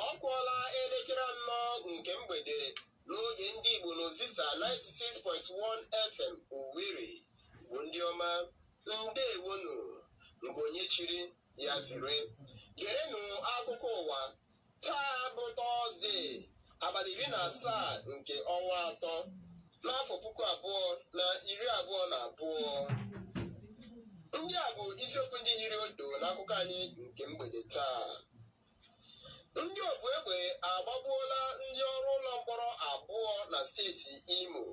ọ kụọla elekere anọ nke mgbede n'oge ndị Igbo n'Ozisa 96.1 FM Owerri Igbo ndị ọma ndewonu nke onye chiri ya zere gerenụ akụkọ ụwa taa bụ tọzdee abalị iri na asaa nke ọnwa atọ n'afọ puku abụọ na iri abụọ na abụọ ndị a bụ isiokwu ndị hiri odo n'akụkọ anyị nke mgbede taa ndị ogbu egbe agbagbuola ndị ọrụ ụlọ mkpọrọ abụọ na steeti imo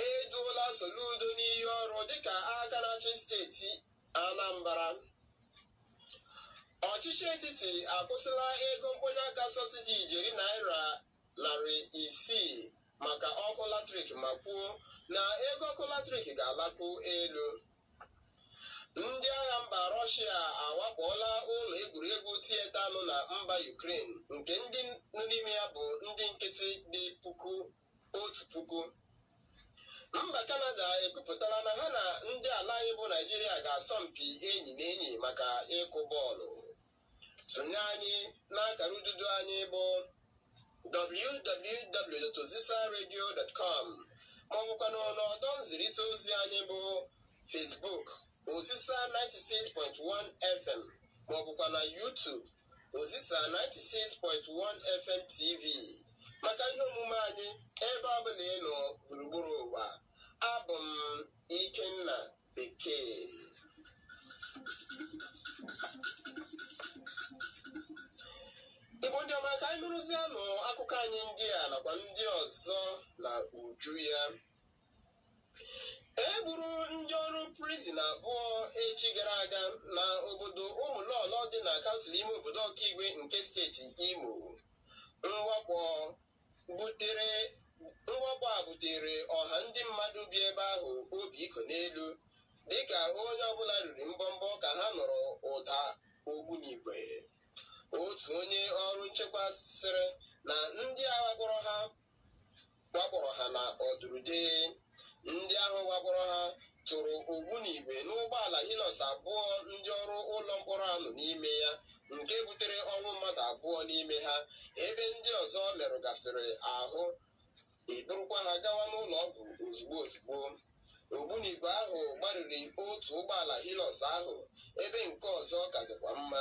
e duola soludo n'iyi ọrụ dịka aka na-achị steeti anambra ọchịchị etiti akwụsịla ego mkpọnye aka sọbsidi ijeri naira narị isii maka ọkụ latrik ma kwuo na ego ọkụ latrik ga-alakwu elu ndị agha mba rọshia awakpọọla ụlọ egwuregwu tieta nọ na mba Ukraine nke ndị nọ n'ime ya bụ ndị nkịtị dị puku otu puku mba kanada ekwupụtala na ha na ndị ala anyị bụ naịjirịa ga-asọ mpi enyi na enyi maka ịkụ bọọlụ sonye anyị n'akara ududo anyị bụ www.ozisaradio.com ma ọ bụkwanụ n'ọdọ nzirịta ozi anyị bụ Facebook Ozisa 96.1 FM ma ọ bụkwa na YouTube Ozisa 96.1 FM TV maka ihe omume anyị ebe ọ bụla ị nọ gburugburu ụwa abụ m Ikenna bekee igbo ndị ọma ka anyị nụrụzianụ akụkọ anyị ndị a nakwa ndị ọzọ na uju ya e gburu ndị ọrụ prizin abụọ echi gara aga na obodo ụmụlọlọ dị na kansụl ime obodo ọkaigwe nke steeti imo mwakpo butere mwakpo a butere ọha ndị mmadụ bi ebe ahụ obi iko n'elu dịka onye ọbụla riri mbọmbọ ka ha nụrụ ụda ogbunigwe otu onye ọrụ nchekwa sịrị na ndị a wakpọrọ ha wakpọrọ ha na ọdụrụde ndị ahụ wakpọrọ ha tụrụ ogbunigwe n'ụgbọala Hilux abụọ ndị ọrụ ụlọ mkpọrọ a nọ n'ime ya nke butere ọnwụ mmadụ abụọ n'ime ha ebe ndị ọzọ merụgasịrị ahụ e burukwa ha gawa n'ụlọ ọgwụ ozugbo ozugbo ogbunigwe ahụ gbariri otu ụgbọala Hilux ahụ ebe nke ọzọ ka dịkwa mma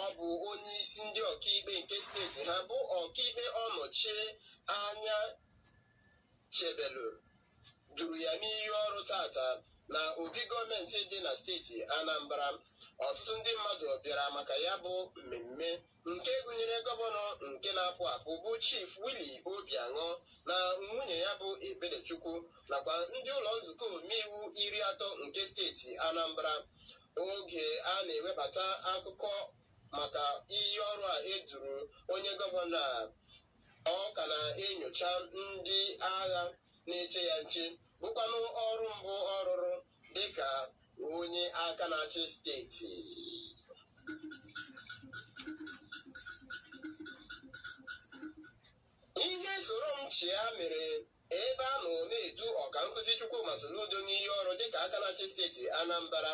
ọ bụ onye isi ndị ọkaikpe nke steeti ha bụ ọkaikpe ọnọchie anyachebelu duru ya n'iyi ọrụ taata na obi gọọmenti dị na steeti anambra ọtụtụ ndị mmadụ bịara maka ya bụ mmemme nke gụnyere gọvanọ nke na-apụ apụ bụ chief willie obianọ na nwunye ya bụ ebelechukwu nakwa ndị ụlọ nzukọ omeiwu iri atọ nke steeti anambra oge a na-ewebata akụkọ maka iyi ọrụ a eduru onye gọvanọ a ọ ka na-enyocha ndị agha na-eche ya nche bụkwanụ ọrụ mbụ ọ rụrụ dịka onye aka na-achị steeti ihe soro m chịa mere Ebe a nọ na-edu ọkankuzi Chukwuma Soludo n'iyi ọrụ dịka aka na-achị steeti Anambra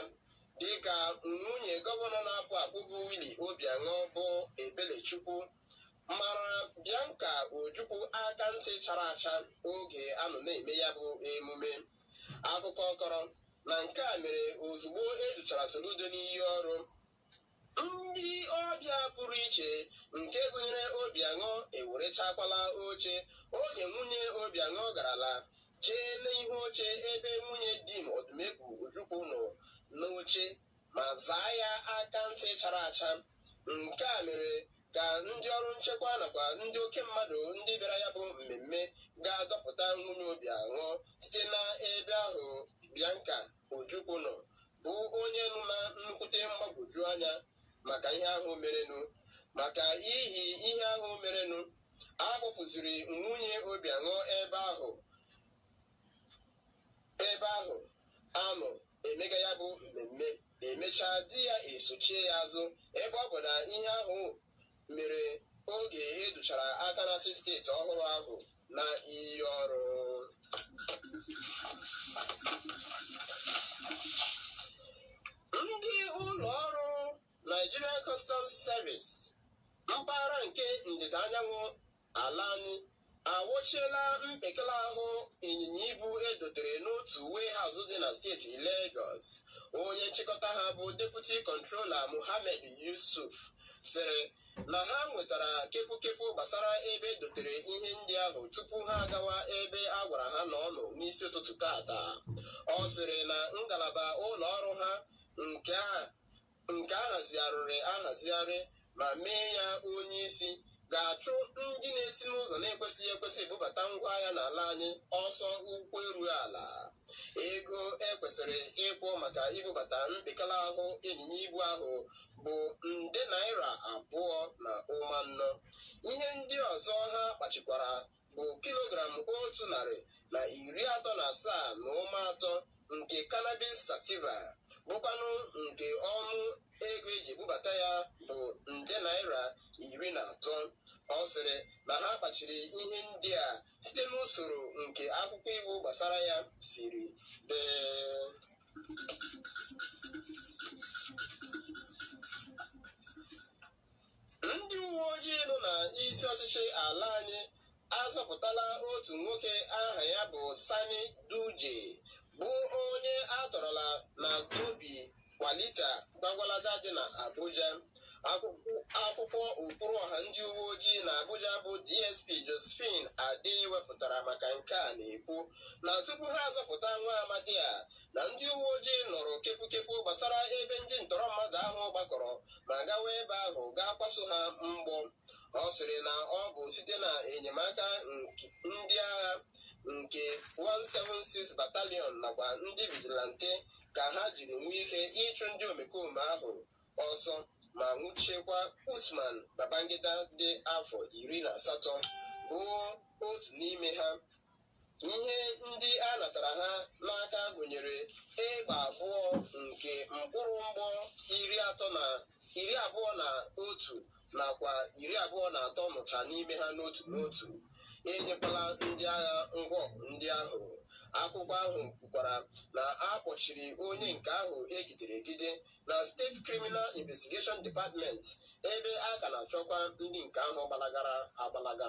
dịka nwunye gọvanọ na-apụ apụ bụ Willie Obianọ bụ Ebelechukwu mara Bianca Ojukwu aka ntị chara acha oge a nọ na-eme ya bụ emume akụkọ kọrọ na nke a mere ozugbo educhara Soludo n'iyi ọrụ ndị ọbịa pụrụ iche nke gụnyere Obianọ ewerechakwala oche oge nwunye Obianọ garala chee n'ihu oche ebe nwunye Dim Odumegwu Ojukwu nọ n'oche ma zaa ya aka ntị chara acha nke a mere ka ndị ọrụ nchekwa nakwa ndị oke mmadụ ndị bịara ya bụ mmemme gaa dọpụta nwunye Obianọ site n'ebe ahụ Bianca Ojukwu nọ bụ onye nọ na nnukwute mgbagwoju anya maka ihe ahụ merenụ maka ihi ihe ahụ merenụ a kpọpụziri nwunye Obianọ ebe ahụ ebe ahụ a nọ emega ya bụ mmemme emechaa di ya esochie ya azụ ebe ọ bụ na ihe ahụ mere oge educhara aka na-achị steeti ọhụrụ ahụ na iyi ọrụ ndị ụlọ ọrụ Nigeria Customs Service mpaghara nke ndịda anyanwụ ala anyị awụchiela mpekele ahụ ịnyịnya ibu edotere n'otu warehouse dị na steeti Lagos onye nchịkọta ha bụ deputy controller Mohammed Yusuf sịrị na ha nwetara kepukepu gbasara ebe edotere ihe ndị ahụ tupu ha agawa ebe a gwara ha na ọ nọ n'isi ụtụtụ taata ọ sịrị na ngalaba ụlọ ọrụ ha nke a nke a hazigharịrị ahazigharị ma mee ya onye isi ga-achụ ndị na-esi n'ụzọ na-ekwesịghị ekwesị ebubata ngwa ahịa n'ala anyị ọsọ ụkwụ eru ala ego ekwesịrị ịkwụ maka ibubata mpekele ahụ ịnyịnya ibu ahụ bụ nde naira abụọ na ụma anọ ihe ndị ọzọ ha kpachikwara bụ kilogram otu narị na iri atọ na asaa na ụma atọ nke cannabis sativa bụkwanụ nke ọnụ ego eji ebubata ya bụ nde naira iri na atọ ọ sịrị na ha kpachiri ihe ndị a site n'usoro nke akwụkwọ iwu gbasara ya siri dee ndị uwe ojii nọ na isi ọchịchị ala anyị azọpụtala otu nwoke aha ya bụ Sani Duje bụ onye atọrọla na Dobi Kwalita Gwagwalada dị na Abuja akwụkwọ okwuru ọha ndị uwe ojii na Abuja bụ DSP Josephine Adeh wepụtara maka nke a na-ekwu na tupu ha azọpụta nwa amadi a na ndị uwe ojii nụrụ kepukepu gbasara ebe ndị ntọrọ mmadụ ahụ gbakọrọ ma gawa ebe ahụ gaa kwaso ha mgbọ ọ sịrị na ọ bụ site na enyemaka ndị agha nke 176 battalion nakwa ndị vigilante ka ha jiri nwee ike ịchụ ndị omekome ahụ ọsọ ma nwụchiekwa usman babangida dị afọ iri na asatọ bụ otu n'ime ha Ihe ndị a natara ha n'aka gụnyere egbe abụọ nke mkpụrụ mgbọ iri abụọ na otu nakwa iri abụọ na atọ nọcha n'ime ha n'otu n'otu. Enyekwala ndị agha ngwa ọgụ ndị ahụ. Akwụkwọ ahụ kwukwara na a kpọchiri onye nke ahụ egidere egide na State Criminal Investigation Department ebe a ka na-achọkwa ndị nke ahụ gbalagara agbalaga.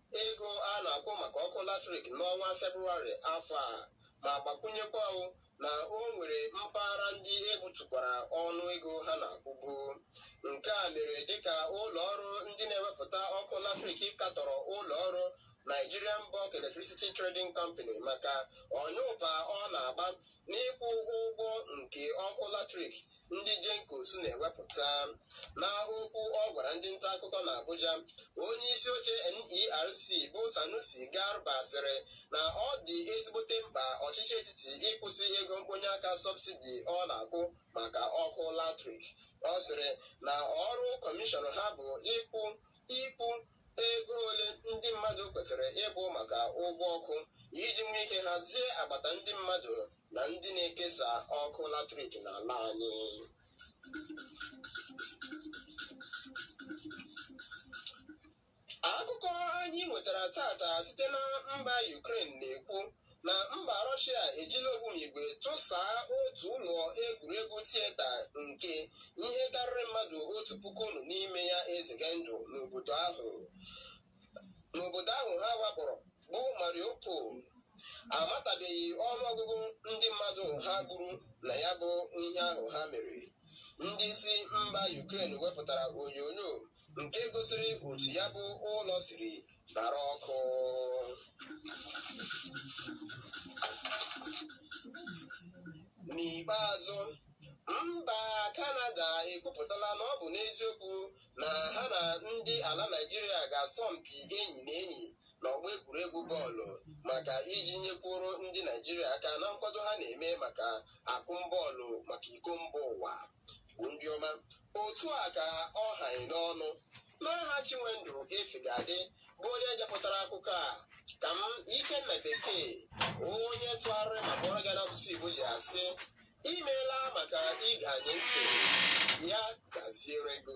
Ego a na-akwụ maka ọkụ latrik n'ọnwa Febụwarị afọ a ma gbakwunyekwa na o nwere mpaghara ndị ebutukwara ọnụ ego ha na-akwụbu. Nke a mere dịka ụlọ ọrụ ndị na-ewepụta ọkụ latrik katọrọ ụlọ ọrụ Nigerian Bulk Electricity Trading Company maka ọnyụpa ọ na-agba n'ịkwụ ụgwọ nke ọkụ latrik ndị GenCos na-ewepụta n'okwu ọ gwara ndị nta akụkọ na Abuja onye isi oche NERC bụ Sanusi Garba sịrị na ọ dị ezigbote mkpa ọchịchị etiti ịkwụsị ego mkponye aka sọbsidi ọ na-akwụ maka ọkụ latrik ọ sịrị na ọrụ kọmishọn ha bụ ịkwụ ikwu ego ole ndị mmadụ kwesịrị ịkwụ maka ụgwọ ọkụ iji nwee ike hazie agbata ndị mmadụ na ndị na-ekesa ọkụ latrik n'ala anyị akụkọ anyị nwetara tata site na mba Ukraine na-ekwu na mba Rọshịa ejila ogbunigwe tụsaa otu ụlọ egwuregwu tieta nke ihe karịrị mmadụ otu puku nọ n'ime ya ezega ndụ n'obodo ahụ n'obodo ahụ ha wakpọrọ bụ Mariupol amatabeghị ọnụọgụgụ ndị mmadụ ha gburu na ya bụ ihe ahụ ha mere ndị isi mba Ukraine wepụtara onyonyo nke gosiri otu ya bụ ụlọ siri gbara ọkụ n'ikpeazụ mba kanada ekwupụtala na ọ bụ n'eziokwu na ha na ndị ala naijiria ga-asọ mpi enyi na enyi n'ọgbọ egwuregwu bọọlụ maka iji nyekwuru ndị naijiria aka na nkwado ha na-eme maka akụm bọọlụ maka iko mba ụwa bụ ndị ọma otu a ka ọ ha anyị n'ọnụ n'aha chinwendu efegadị bụ onye depụtara akụkọ a ka m ikenna bekee onye tụgharịrị ma gụọrọ gị n'asụsụ igbo ji asị imeela maka ige anyị ntị ya gaziere gị